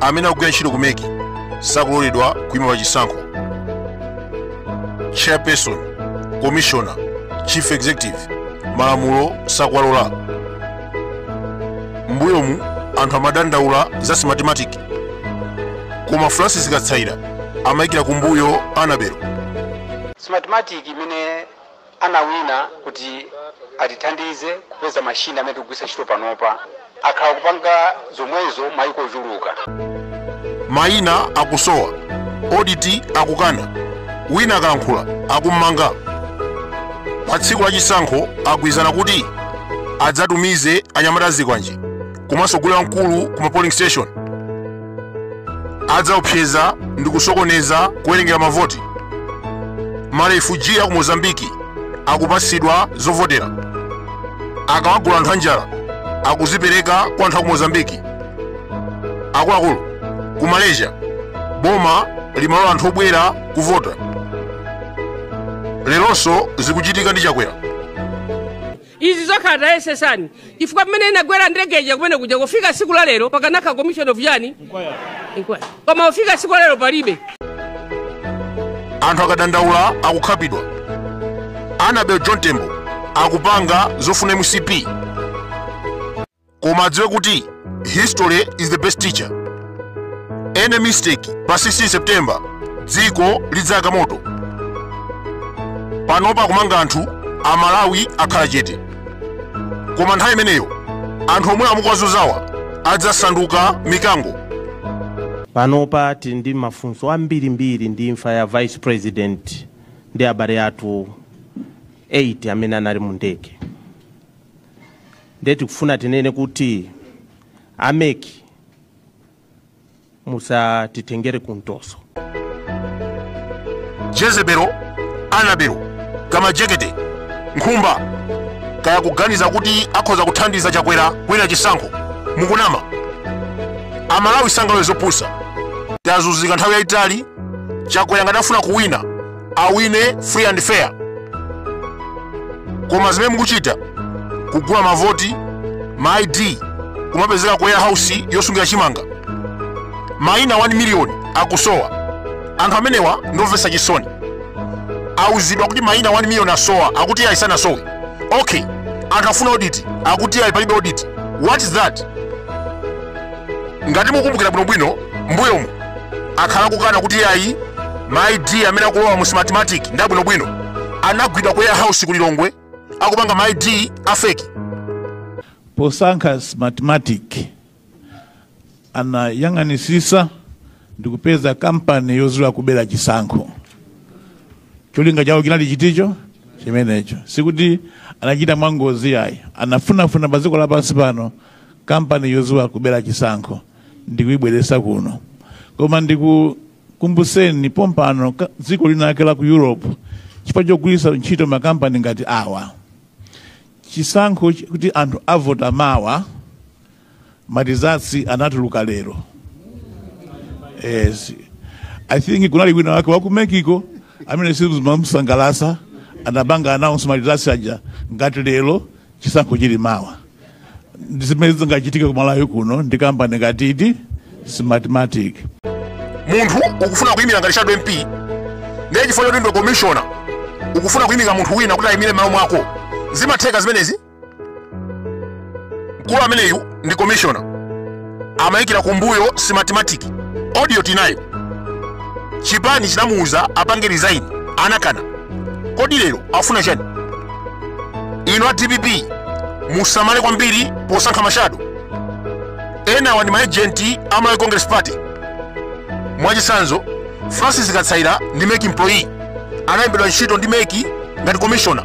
amene akugwira ntchito ku mec sakuloledwa kuima pa chisankho chairperson commissioner chief executive malamulo sakuwalola mbuyomu anthu amadandaula za smartmatic koma francis katsaira amayikira kumbuyo anabel smartmatic imene anawina kuti atithandize kupeza machine amene tikugwiritsa ntchito panopa. Akhala akupanga zomwezo maiko ochuluka. Maina akusowa, audit akukana, wina akalankhula akummanga. Pa tsiku la chisankho agwirizana kuti adzatumize anyamata azikwanje komanso gule wamkulu ku ma polling station. adzaopseza ndi kusokoneza kuwerengera mavoti marefuji aku mozambiki akupatsidwa zovotera akawagula anthu anjala akuzipereka kwa anthu aku mozambiki akuluakulu ku malaysia boma limalola anthu obwera kuvota lerolonso zikuchitika ndi chakwera izi zokhala tayesesani chifukwa pamene inagwera ndege ija kumene kuja kufika tsiku la lero pakanakhala commission of yani Inquiry. koma kufika tsiku la lero palibe anthu akadandaula akukhapidwa anabel john tembo akupanga zofuna mcp koma adziwe kuti history is the best teacher any mistake pa 16 september dziko lidzayaka moto panopa akumanga anthu amalawi akhala chete koma nthawi imeneyo anthu omwe amukwazuzawa adzasanduka mikango panopa tili ndi mafunso ambirimbiri ndi imfa ya vice president ndi abale athu 8 amene anali mu ndege ndiye tikufuna tinene kuti ameki musatitengere kuntoso jezebelo anabelo kamajekete nkhumba kaya akuganiza kuti akhoza kuthandiza chakwera kuwina chisankho mukunama amalawi sangalole zopusa tazunzika nthawi yayitali chakwera ngati afuna kuwina awine free and fair koma zimene mukuchita kugula mavoti ma id kumapezeka ku warehouse yosungira chimanga maina 1 miliyoni akusowa anthu amenewa ndiomvetsa chisoni auzidwa kuti maina 1 miliyoni asowa akuti ayi sanasowe okay anthu afuna audit akuti ayi palibe audit what is that ngati mukumbukira bwinobwino mbuyomu akhala kukana kuti yayi ma id amene akulowa mu smartmatic ndi abwinobwino anagwidwa ku warehouse ku lilongwe akupanga ma id afeki posankha smartmatic anayang'anitsitsa ndi kupeza kampani yodziwa kubera chisankho cholinga chawo chinali chiticho chimenecho sikuti anachita mwangozi yayi anafunafuna pa dziko lapansi pano kampani yodziwa kubera chisankho ndikuibweretsa kuno koma ndikukumbutseni pompano ka- dziko linake la ku europe chifukwa chogwiritsa ntchito makampani ngati awa chisankho ch- kuti anthu avota mawa ma results anatuluka lero yes. i think kunali wina wake wa ku mexico amene sizimamusangalatsa anapanga announce ma results aja ngati lero chisankho chili mawa ndi zimene zingachitike ku malawi kuno ndi kampani ngati smartmatic munthu ukufuna kuyimira ngati shadow mp ndiye chifukwa choti ndiwe commissioner ukufuna kuyimika munthu wina kuti ayimire malo mwako zimatheka zimenezi mkulu ameneyu ndi commissioner amayikira kumbuyo smartmatic audio tinayo chipani chinamuuza apange resign anakana kodi lero akufuna chani inu a dpp musamale kwambiri posankha mashado enawa ndi maejenti a malawi congress party mwachitsanzo francis kasaila ndi mec employee analembedwa ntchito ndi mec ngati commissioner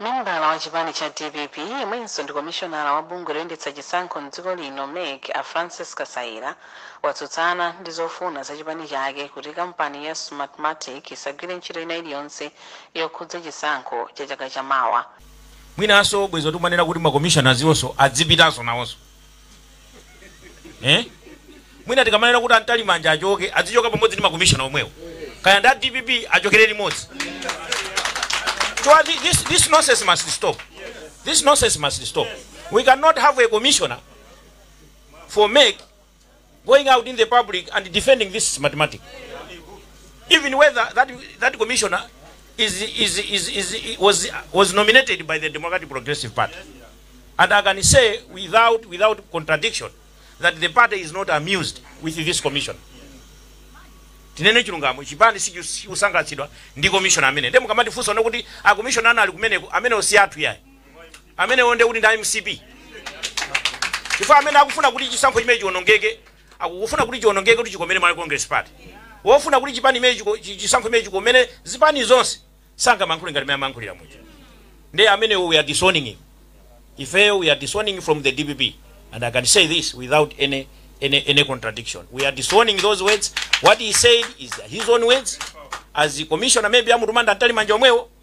membala wa chipani cha dpp yemwenso ndi komishonala wa bungwe loyendetsa chisankho mdziko lino mec a francis kasaila watsutsana ndi zofuna za chipani chake kuti kampani ya smartmatic isagwire ntchito ina iliyonse yokhudza chisankho cha chaka chamawa mwinanso bwezi tikumanena kuti makomishona azionso adzipitanso nawonso eh? mwina tikamanena kuti a mtalimanja achoke azichoka pamodzi ndi makomishona omwewo kaya ndi a dpp achokere limodzi so uh, thi- this, this nonsense must stop this nonsense must stop we cannot have a commissioner for mec going out in the public and defending this smartmatic even whether that, that commissioner is, is, is, is, was, was nominated by the democratic progressive party and i can say without, without contradiction that the party is not amused with this commission tinene chilungamo chipani sichikusangalatsidwa ndi commission amene nde mukamatifunsa nokuti makomishona ena ali kumeneko amenewo si athu yayi amenewo ndiye kuti ndi a mcp chifukwa amene akufuna kuti chisankho chimenechi chionongeke akufuna kuti chionongeke kuti chikomere malawi congress party wofuna kuti chipani chimenechi chiko- chi- chisankho chimenechi chikomere zipani zonse sangamayankhule ngati mmene amayankhulira muja ndiye amenewo we are disowning him ifeyo we are disowning from the dpp and i can say this without any any, any contradiction we are disowning those words what he said is his own words as the commissioner maybe amutuma nda atali manja omwewo